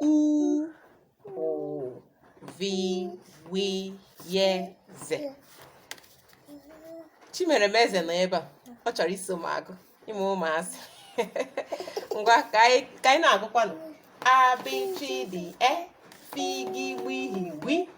u ụ vi wi ye ze chimeremeze nọ ebe a ọ chọrọ iso m agụ ị ma ụmụazị ngwa ka anyị na-agụkwanụ abịchịdị e fi gi gbi ghi gwi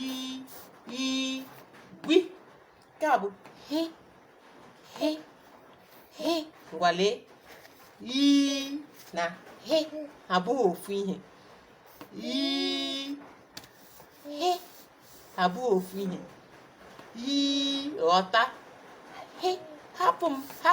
i i gwi nke a bụ hi hi hi ngwa lee ghi na hi abụghị ofu ihe ghi hi abụghị ofu ihe ghi ghọta hi hapụ m ha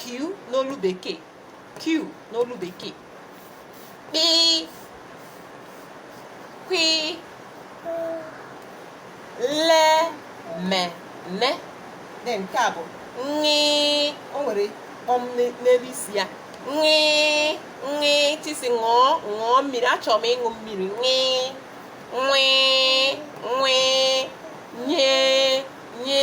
Q n'olu bekee Q n'olu bekee kpị kwi le me ne then nke a bụ ṅị o nwere kpọm n'elu isi ya ṅị ṅị tisi ṅụọ ṅụọ mmiri achọrọ m ịṅụ mmiri ṅị nwe nwe nye nye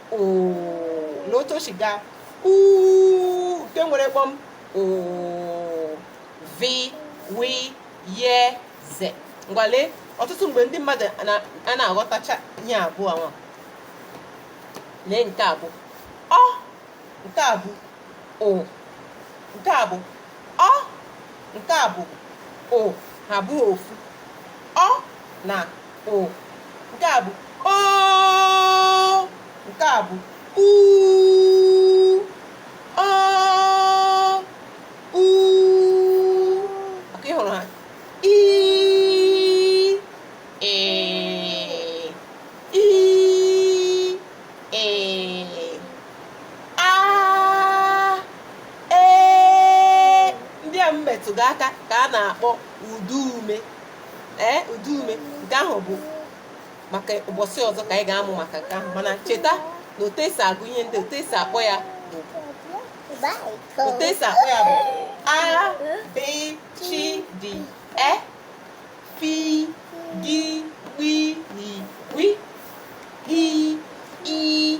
oo lee otu o si gaa uu nke nwere kpọm ụ vi wi ye ze ngwa lee ọtụtụ mgbe ndị mmadụ anaghị aghọtacha ihe abụọ nwa lee nke a bụ ọ nke a bụ o nke a bụ ọ nke a bụ o ha abụrọ ofu ọ na o nke a bụ o nke a bụ uu ọ uu maka ị hụrụ ha ii ee ii ee metụga aka ka a na-akpọ ụdaume ee ụdaume nke ahụ bụ maka ụbọchị ọzọ ka anyị ga-amụ maka nke ahụ mana cheta na otu esi agụ ihe ndị otu esi akpọ ya bụ otu esi akpọ ya bụ a b ch d e f g gb gh gw h i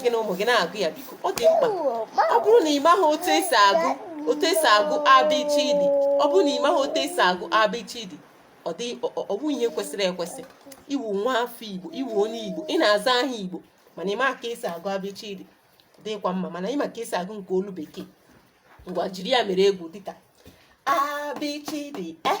gị na ụmụ gị na-agụ ya biko ọ dị mkpa ọ bụrụ na ị maghị otu esi agụ abịchidi ọ bụ ihe kwesịrị ekwesị ị wụ nwa afọ igbo ị wụ onye igbo ị na-aza aha igbo mana ị ma ka esi agụ abịchidi dịkwa mma mana ị ma ka esi agụ nke olu bekee ngwa jiri ya mere egwu dịka abịchidi e eh,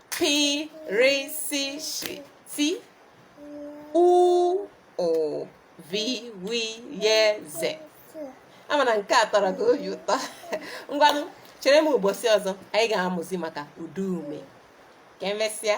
P, re, si, shi, ti. U, ụ, vi, wi, ye, ze. Ama na nke a tọrọ gị obi ụtọ. Ngwanụ, chere m ụbọchị ọzọ anyị ga-amụzi maka ụdaume. Ka emesịa.